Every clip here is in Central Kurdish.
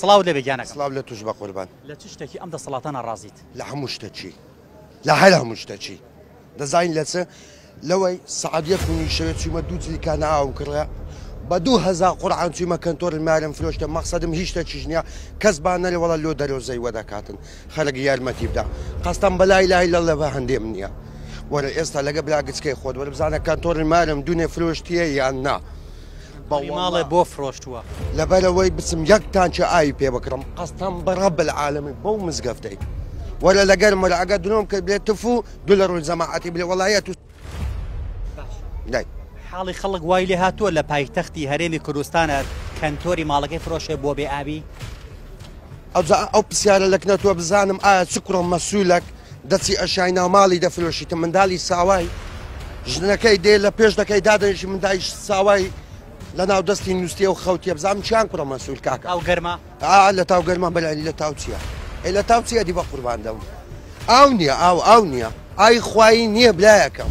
سڵاو لەبێ گیانەکەم. سڵاو لە توش بە قوربان. لە چ شتەکی ئەم دەسەڵاتە ناڕازیت؟ لە هەموو شتەکی. لە هەر هەموو شتەکی. دەزانین لە چ؟ لەوەی سەعات یەک و نیو شەوێ چوومە دوو جلیکانە ئاوم کڕە، بە دوو هەزار قورعان چوویمە کەنتۆرل مارم فرۆشتە، مەقسەدم هیچ شتەکیش نییە، کەس با نەلێ وەڵا لۆ دەرۆزەی وە دەکاتن. خەرک یارمەتی بدە. قەستەم بە لا ئیلاهە ئیلا اللە بە هەندێم نییە. وەرە ئێستا لەگە برا گچکەی خۆت وەرە بزانە کەنتۆرل مارم دوونێ فرۆشتییە یان نا؟ بنیماڵێ بۆ فرۆشتووە. لەبەرەوەی بچم یەک تانکی ئاوی پێ بکڕم قەستەم بە ڕەب العالمین بەو مزگەفتەی وەرە لەگەرم وەرە ئەگەر درۆم کرد بێت تف و دوو لە ڕووی جەماعەتی بلێ وەڵایە تو لای حاڵی خەڵک وای لێ هاتووە لە پایتەختی هەرێمی کوردستانە کەنتۆری ماڵەکەی فرۆشێ بۆ بێ ئاوی ئەوجا ئەو پسیارە لە کنە تۆ بزانم ئایا چ کوڕە مەسولەک دەچی ئەشای ناو ماڵی دەفرۆشیتە مندالی ساوای ژنەکەی دێ لە پێش دەکەی دادەنیشی مندایش ساوای لە ناو دەستی نووسیە و خەوتیە بزانم چیان کوڕە مەسول کاکە ئەو گەرمە ئا لە تاو گەرمان بەلانی لە تاو چییە ئەی لە تاو چییە دی بە قوربان دەم ئاو نییە ئاو ئاو نییە ئای خوایی نییە برایەکەم.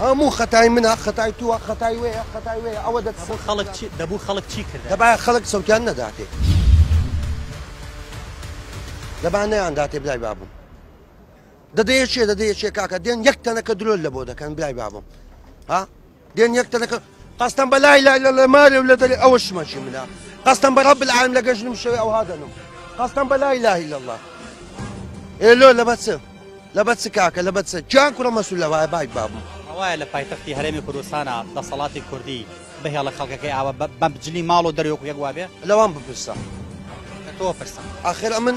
هەموو خەتای منە خەتای تووە خەتای وەیە خەتای وەیە ئەوە دەت خەڵک دەبوو خەڵک چی کرد دەبا خەڵک سەوتیان نەداتێ دەبا نەیان داتێ برای بابم دەدەیە چێ دەدەیە چێ کاکە دێن یەک تەنەکە درۆل لە بۆ دەکەن برای بابم ها دێن یەک تەنەکە قەستەم بە لای لای لە مارێ و لە دەرێ ئەوە شمەکی منە قەستەم بە ڕەب العالم لە گەژنم شەوێ ئەوها دەنم قەستەم بە لای لای لە الله ئێلۆ لە بەچ لە بەچ کاکە لە بەچ کیان کوڕە مەسول لە وایە باک بابم ڕواە لە پایتەختی هەرێمی کوردستانە دەسەڵاتی کوردی بەهێڵە خەڵکەکەی ئاوە بەمجلی ماڵ و دەرێک یەک وابێ لەوان بپرسە تۆ پرسە ئاخر ئەمن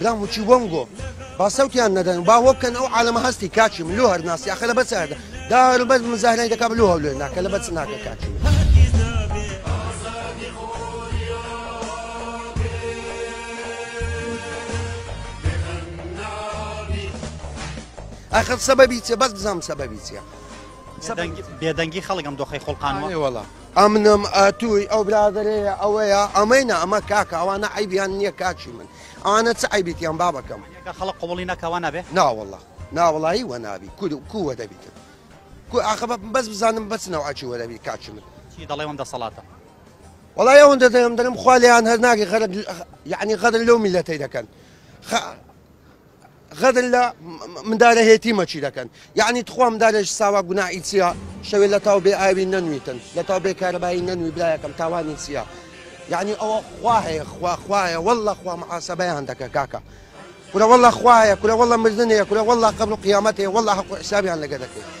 برام وچی وەم گۆ با سەوتیان نەدەن با وە بکەن ئەو عالەمە هەستی کاچی من لۆ هەرناسی ئەخە لە بەس هەردە دا هەروبەر مزاهرای دەکا لۆ هەولێ ناکە لە بەس ناکە کاچی ئەخر سەبەبی چێ بەس بزانم سەبەبی چیە بێدەنگی خەڵکم دۆخی خۆڵقانەوە وڵام ئەمنم ئەتووی ئەو برادەرەیە ئەوەیە ئەمەینە ئەمە کاکە ئەوانە عەیبیان نییە کاکی من ئەوانە چ عەیبیان بابەکەم کە خەڵک قبوڵی نەکا وا نابێ ناوەڵڵا ناوەڵایی وە نابی کور و کووە دەبیتن کو ئاخە بە بەس بزانم بەچ نەوعەکی وە دەبی کاکی من چی دەڵێ وەم دەسەڵاتە وەڵای ئەوەندە دەیان دەرم خوا لێیان هەر ناگەی غەرەد یعنی غەدر لەو میلەتەی دەکەن خە غەدر لە مندارە هێتی مەچی دەکەن یعنی تخوا مندارێش ساوا گوناعی چیە شەوێ لە تاو بێ ئاوی نەنویتن لە تاو بێ کارەبایی نەنوی برایەکەم تاوانی چیە یعنی ئەوە خوا هەیە خوا خوایە والله خوا محاسبەیان دەکە کاکە کورە والله خوایە کورە والله مردنەیە کورە والله قبر و قیامەتەیە والله حق و حسابیان لەگە دەکەی